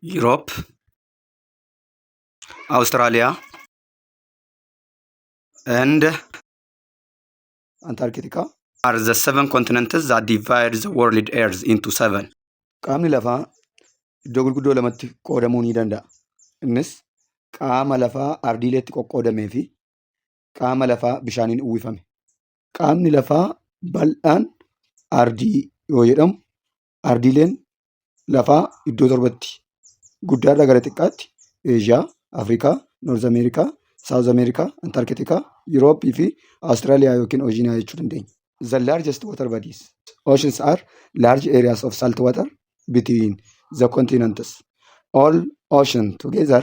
Europe, Australia, and Antarctica are the seven continents that divide the world Earth into seven. Qaamni lafaa iddoo gurguddoo lamatti qoodamuu ni danda'a. Innis qaama lafaa ardiileetti qoqqoodamee fi qaama lafaa bishaaniin uwwifame. Qaamni lafaa bal'aan ardii yoo jedhamu, ardiileen lafaa iddoo torbatti guddaarraa gara xiqqaatti Eeshiyaa, Afrikaa, Noorz Ameerikaa, Saawuz Ameerikaa, Antarkitikaa, Yurooppii fi Awustiraaliyaa yookiin Ooshiiniyaa jechuu dandeenya. The largest water bodies. Oceans are large areas of salt water between the continents. All ocean together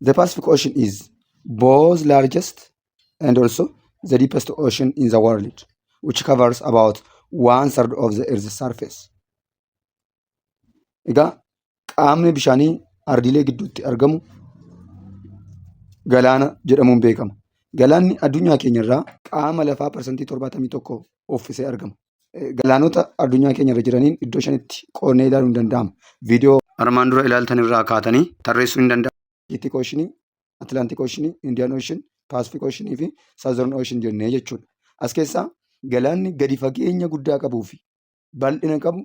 The Pacific Ocean is both largest and also the deepest ocean in the world, which covers about one third of the Earth's surface. Egaa qaamni bishaanii ardiilee gidduutti argamu galaana jedhamuun beekama. Galaanni addunyaa keenyarraa qaama lafaa parsantii 71 uffisee argama. eh, galaanota addunyaa keenya irra jiraniin iddoo shanitti qoodnee ilaaluun danda'ama. Viidiyoo armaan dura ilaaltan irraa kaatanii tarreessuu hin danda'amu. Atlantic Ocean, Atlantic Ocean, Indian Ocean, Pacific Ocean fi Southern Ocean jennee jechuudha. As keessaa galaanni gadi fageenya guddaa qabuu fi bal'ina qabu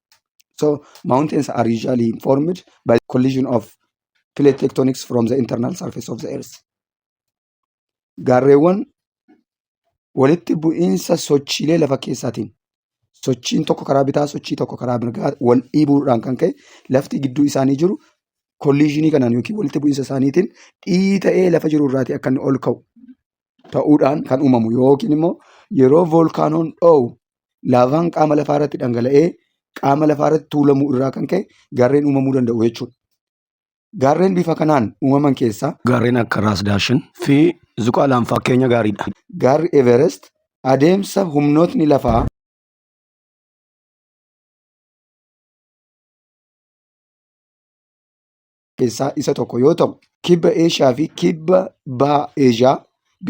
So mountains are usually formed by the collision of plate tectonics from the internal surface of the earth. Gaarreewwan walitti bu'iinsa sochiilee lafa keessaatiin sochiin tokko karaa bitaa sochii tokko karaa mirgaa wal dhiibuudhaan kan ka'e lafti gidduu isaanii jiru kolliizhinii kanaan yookiin walitti bu'iinsa isaaniitiin dhiita'ee lafa jiru irraatii akka inni ol ka'u ta'uudhaan kan uumamu yookiin immoo yeroo voolkaanoon dhoo'u laavaan qaama lafaa irratti dhangala'ee qaama lafaa irratti tuulamuu irraa kan ka'e gaarreen uumamuu danda'u jechuudha. Gaarreen bifa kanaan uumaman keessaa gaarreen akka Raas Daashin fi Zuqaalaan fakkeenya gaariidha. gaarri Everest adeemsa humnootni lafaa keessaa isa tokko yoo ta'u, Kibba Eeshiyaa fi Kibba Baha Eeshiyaa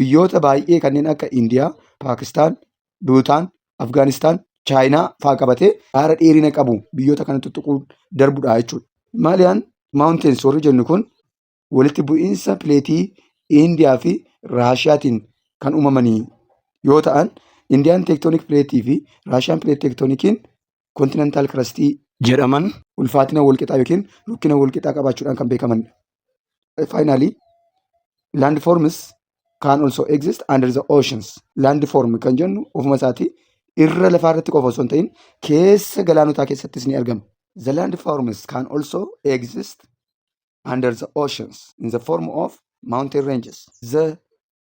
biyyoota baay'ee kanneen akka Indiyaa, Paakistaan, Buutaan, Afgaanistaan, Chaayinaa fa'aa qabatee gaara dheerina qabu biyyoota kana tuttuquun darbudha jechuudha. Himaaliyaan Mountains warri jennu kun walitti bu'iinsa pileetii Indiyaa fi Raashiyaatiin kan uumamanii yoo ta'an, Indiyaan teektooniik pileetii fi Raashiyaan pileet teektoonikiin kontinentaal kirastii jedhaman ulfaatina walqixaa yookiin rukkina walqixaa qabaachuudhaan kan beekamanidha. Faayinaalii laand foormis kaan also exist under the oceans. Laand foorm kan jennu ofuma isaatii irra lafaa irratti qofa osoo hin ta'in keessa galaanotaa keessattis ni argama. The land forms can also exist under the oceans in the form of mountain ranges. The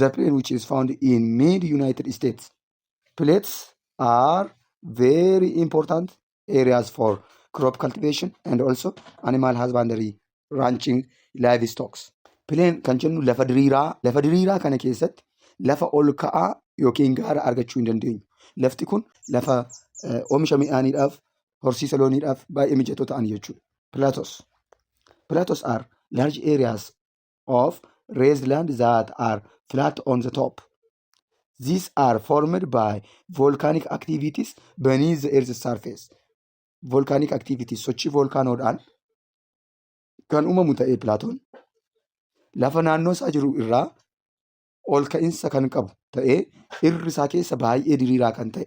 the plane which is found in mid united states plates are very important areas for crop cultivation and also animal husbandry ranching livestock plane kan jennu lafa diriiraa lafa diriiraa kana keessatti lafa ol ka'aa yookiin gaara argachuu hin dandeenyu lafti kun lafa eh, oomisha midhaaniidhaaf horsiisa looniidhaaf baay'ee mijatoo ta'an jechuudha platos platos are large areas of raised land that are flat on the top. These are formed by volcanic activities beneath the earth's surface. Volcanic activities sochii volkaanoodhaan kan uumamu ta'ee pilaatoon lafa naannoo isaa jiru irraa ol ka'insa kan qabu ta'ee irri isaa keessa baay'ee diriiraa kan ta'e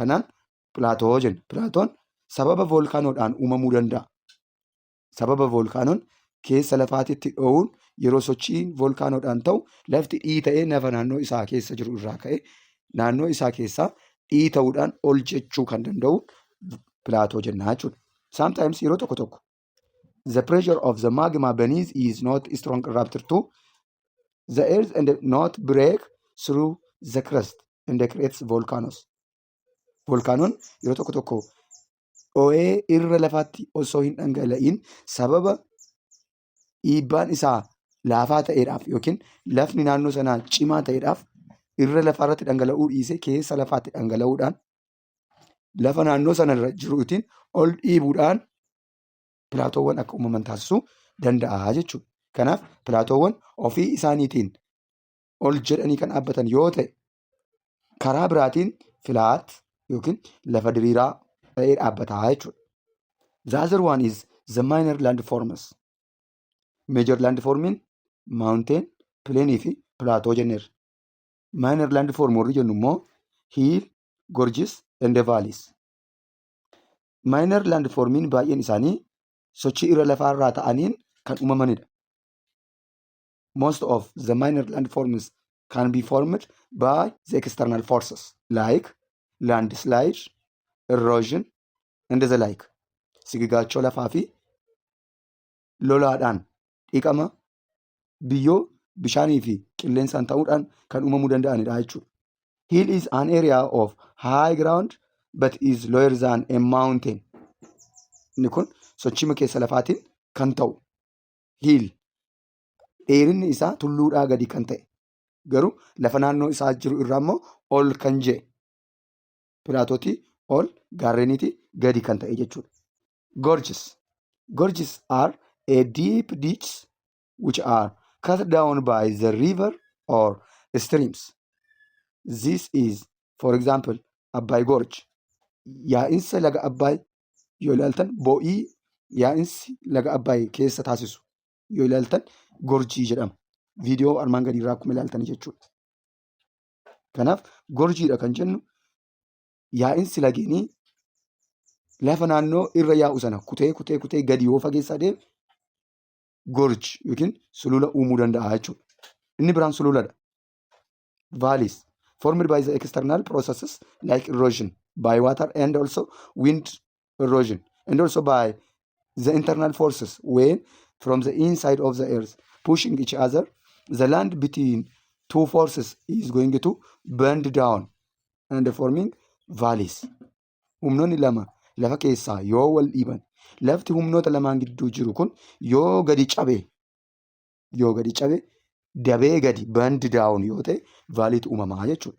Tanaan pilaatoo jenna. Pilaatoon sababa voolkaanoodhaan uumamuu danda'a. Sababa voolkaanoon keessa lafaatitti dho'uun yeroo sochiin voolkaanoodhaan ta'u lafti dhiita'ee nafa naannoo isaa keessa jiru irraa ka'ee naannoo isaa keessaa dhiita'uudhaan ol jechuu kan danda'u pilaatoo jennaa jechuudha. Sometimes yeroo tokko tokko the pressure of the magma beneath is not strong rupture to the earth and not break through the crust and creates volcanoes. Volkaanoon yeroo tokko tokko dhoo'ee irra lafaatti osoo hin dhangala'in sababa dhiibbaan isaa laafaa ta'eedhaaf yookiin lafni naannoo sanaa cimaa ta'eedhaaf irra lafaa irratti dhangala'uu dhiisee keessa lafaatti dhangala'uudhaan lafa naannoo sana irra jiru ittiin ol dhiibuudhaan pilaatoowwan akka uumaman taasisuu danda'a jechuudha. Kanaaf pilaatoowwan ofii isaaniitiin ol jedhanii kan dhaabbatan yoo ta'e karaa biraatiin filaat yookiin lafa diriiraa ta'ee dhaabbataa jechuudha. The other one is the minor landforms. Major landformiin mountain, plain fi plateau jenneerra. Minor landform warri jennu immoo hill, gorges and valleys. Minor landformiin baay'een isaanii sochii irra lafaa irraa ta'aniin kan uumamanidha. Most of the minor landforms can be formed by the external forces like landslide, erosion and the like. Sigigaachoo lafaa fi lolaadhaan dhiqama biyyoo, bishaanii fi qilleensaan ta'uudhaan kan uumamuu danda'anidha jechuudha. Hill is an area of high ground but is lower than a mountain. Inni kun sochima keessa lafaatiin kan ta'u hiil dheerinni isaa tulluudhaa gadi kan ta'e garuu lafa naannoo isaa jiru irraa immoo ol kan jee pilaatootii ol gaarreeniitii gadi kan ta'e jechuudha. gorges gorges are a deep ditches which are cut down by the river or streams this is for example abbaay gorge yaa'insa laga abbaay yoo ilaaltan bo'ii yaa'insi laga abbaay keessa taasisu yoo ilaaltan gorjii jedhama viidiyoo armaan gadii irraa akkuma ilaaltan jechuudha kanaaf gorjiidha kan jennu yaa'insi lageenii lafa naannoo irra yaa'u sana kutee kutee kutee gadi yoo fageessaa deeme gorge yookiin sulula uumuu danda'a jechuudha. Inni biraan sululadha. Valleys formed by the external processes like erosion by water and also wind erosion and also by the internal forces when from the inside of the earth pushing each other the land between two forces is going to bend down and forming valleys humnoonni lama lafa keessaa yoo wal dhiiban lafti humnoota lamaan gidduu jiru kun yoo gadi cabe yoo gadi cabe dabee gadi bandi daawun yoo ta'e vaaliitu uumamaa jechuudha.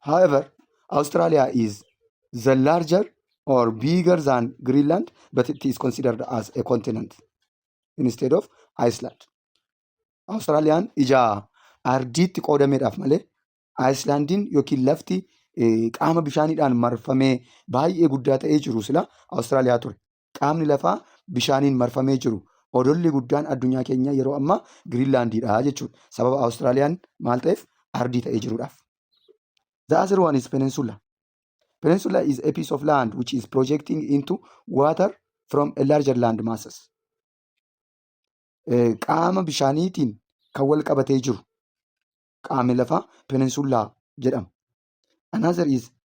However, Australia is the larger or bigger than Greenland, but it is considered as a continent instead of Iceland. Australiyaan ija ardiitti qoodameedhaaf malee Ayislaandiin yookiin lafti eh, qaama bishaaniidhaan marfamee baay'ee guddaa ta'ee jiru sila Austraaliyaa ture. qaamni lafaa bishaaniin marfamee jiru odolli guddaan addunyaa keenyaa yeroo ammaa Giriinlaandiidha jechuudha. Sababa Awustiraaliyaan maal ta'eef ardii ta'ee jiruudhaaf. The other one is peninsula. Peninsula is a piece of land which is projecting into water from a larger land masses. Eh, Qaama bishaaniitiin kan wal qabatee jiru qaamni lafaa peninsula jedhama. Another is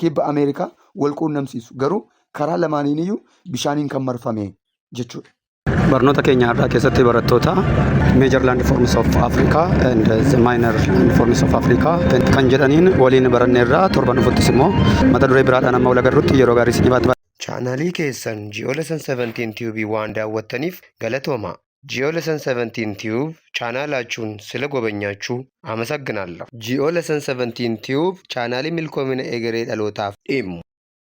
kibba Ameerikaa wal quunnamsiisu. Garuu karaa lamaaniiniyyuu bishaaniin kan marfame jechuudha. Barnoota keenya har'aa keessatti barattoota Major Landforms of Africa and the Minor Landforms of Africa kan jedhaniin waliin baranneerra torban dhufuttis immoo mata duree biraadhaan amma wal agarrutti yeroo gaarii isiniif haa ta'u. Chaanaalii keessan Ji'oolessan 17 Tube waan daawwattaniif galatoomaa. Geo Lesson 17 Tube chaanaalaachun sila gobanyachu amasagginaallh! Geo Lesson 17 Tube chaanaalii milkoomina egeree dhalootaaf dhimmu!